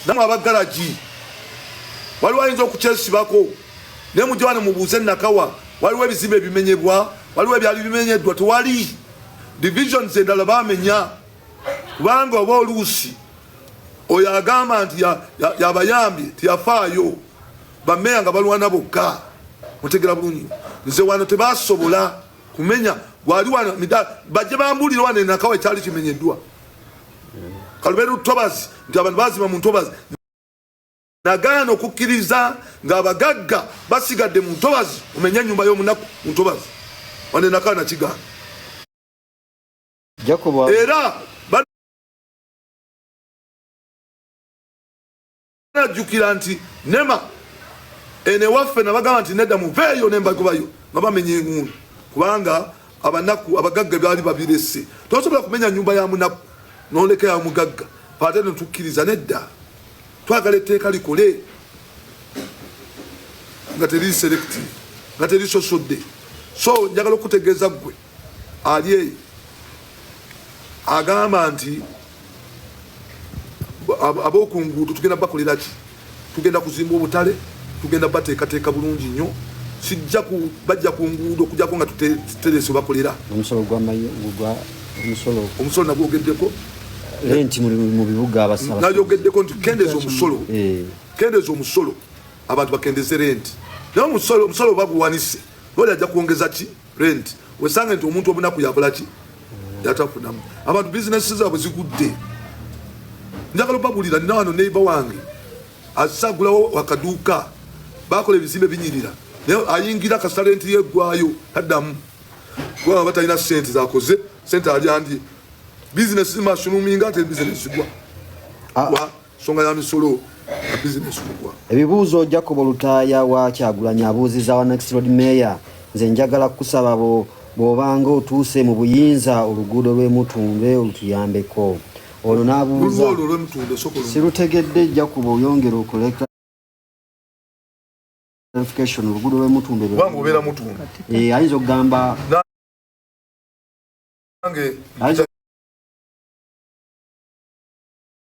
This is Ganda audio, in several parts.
namwe abagalagi waliwo ayinza okukyesibako naye mujja wano mubuuze nakawa waliwo ebizimbe ebimenyebwa waliwo ebyali bimenyeddwa tewali divisions endala bamenya kubanga oba oluusi oyo agamba nti yabayambye tiyafaayo bameya nga balwana bokka mutegera bulungi nze wano tebasobola kumenya gwali wano bajje bambuulire wano enakawa ekyali kimenyeddwa kaluberu tobazi nti abantu bazima mu ntobazi nagaana okukkiriza ng'abagagga basigadde mu ntobazi omenya ennyumba y'omunaku mu ntobazi wane nakaana kigaana era najjukira nti nema ene waffe nabagamba nti nedda muveeyo nembagobayo nga bamenya engundu kubanga abanaku abagagga byali babirese tosobola kumenya nyumba ya munaku noleka ya mugagga ate netukkiriza nedda twagala etteeka likole nga teri selective nga teri sosodde so njagala okutegeeza ggwe ali eyo agamba nti ab'oku nguudo tugenda bakolera ki tugenda kuzimba obutale tugenda bateekateeka bulungi nnyo kijja bajja ku nguudo okujako nga tuterese bakolera omusolo nagwogeddeko renti mu bibuga abasaba nayogeddeko nti kendeza omusolo eh. kendeza omusolo abantu bakendeze renti naye omusolo omusolo baguwanise lwali ajja kwongeza ki rent wesange nti omuntu omunaku yakola ki yatafunamu abantu bizinesi zaabwe zigudde njagala obagulira nina wano neiba wange asagulawo wakaduuka bakola ebizimbe binyirira naye ayingira kasalenti yegwayo taddamu kubanga batalina sente zakoze sente alyandye bizinesi zimasunuminga ate bizinesi zigwa ah. nsonga ya misolo na bizinesi kugwa. Ebibuuzo Jacob Lutaaya wa Kyagulanyi abuuzizza wa Next Lord Mayor, nze njagala kukusaba bo bw'obanga otuuse mu buyinza oluguudo lw'e Mutundwe olutuyambeko. Ono n'abuuza sirutegedde Jacob oyongera okuleka clarification oluguudo lw'e Mutundwe eh, ayinza okugamba ayinza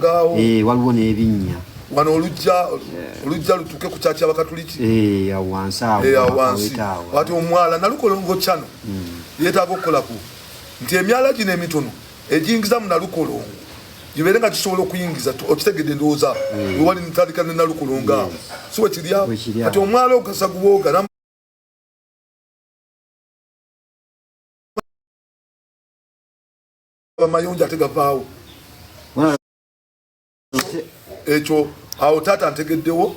gaawo eh, waliwo n'ebinnya wano olujja olujja lutuke ku kyakya bakatuliki eh, awo wansi awo eh, wansi wati omwala nalukolongo kyano hmm. yeetaaga okukolaku nti emyala gino emitono egiyingiza mu nalukolongo gibeere nga kisobola okuyingiza okitegedde endowooza hmm. wewali ntandika ne nalukolongo awo si wekirya kati omwala ogasa gubooga amayonjo ate gavaawo ekyo awo taata ntegeddewo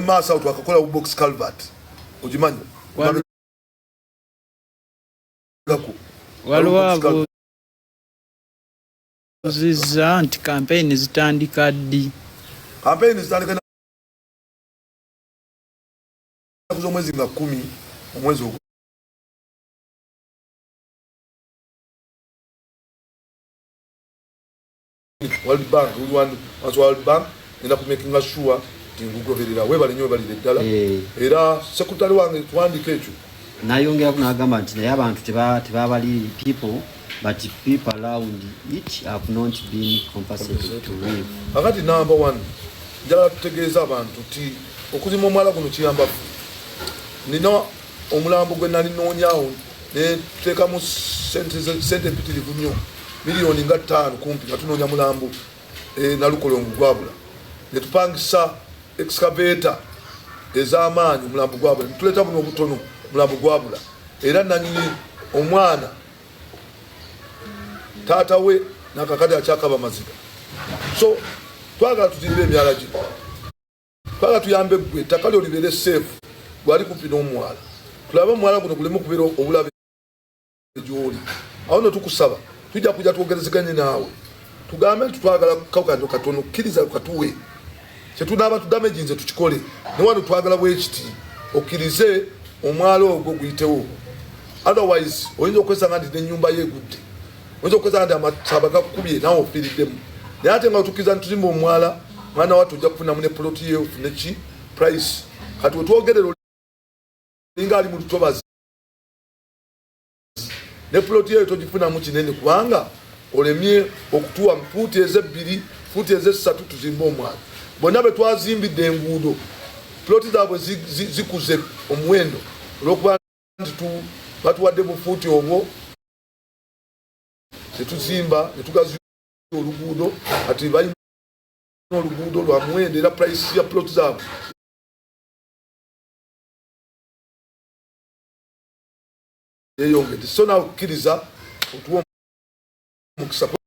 maaso awo twakakola box calvert ogimanyi waliwo abuuzizza nti kampeyini zitandika ddi kampeyini zitandika z'omwezi nga kumi omwezi ogwo World Bank World as World Bank ina ku making sure tingugoberera webale nyo bali ddala eh. era sekutali wange twandike ekyo nayongera ku nagamba nti naye abantu teba tebabali people but people around it have not been compensated to live akati number 1 njala tutegeeza abantu ti okuzima omwala guno kiyamba nina omulambo gwe nali noonyaawo netuteekamu sente empitirivu nnyo miliyoni nga ttaano kumpi nga tunoonya mulambo e, nalukolongo gwabula netupangisa excavator ez'amaanyi omulambo gwabula netuleeta buno obutono omulambo gwabula era nanyini omwana taata we nakakade akyakaba maziga so twagala tutirire emyala gino Twala tuyambe gwe ettaka lyo libeere seefu gwali kumpi n'omwala tulabe omwala guno guleme okubeera obulabe gyoli awo no tukusaba tujja kujja twogerezeganye naawe tugambe nti twagala kawukano katono kkiriza lukatuwe kyetunaaba tudamegi nze tukikole naye wano twagala bwekiti okkirize omwala ogwo guyitewo otherwise oyinza okwesanga nti nenyumba yo egudde oyinza okukozesa nti amasaba gakukubye nawe ofiiriddemu naye ate nga otukiza nituzimba omwala mwana watu ojja kufunamu ne poloti ye ofune ki price kati wetwogerera olinga ali mu lutobazi ne poloti yeyo togifunamu kinene kubanga olemye okutuwa fuuti ezebbiri fuuti ezessatu tuzimbe omwala bonna betwazimbidde enguudo ploti zaabwe zikuze omuwendo olwokuba nti batuwadde bufuuti obwo tetuzimba netugazi oluguudo ati balina oluguudo lwa muwendo era price ya plot zaabwe yeyongedde so nawe okukkiriza otuwa omukisa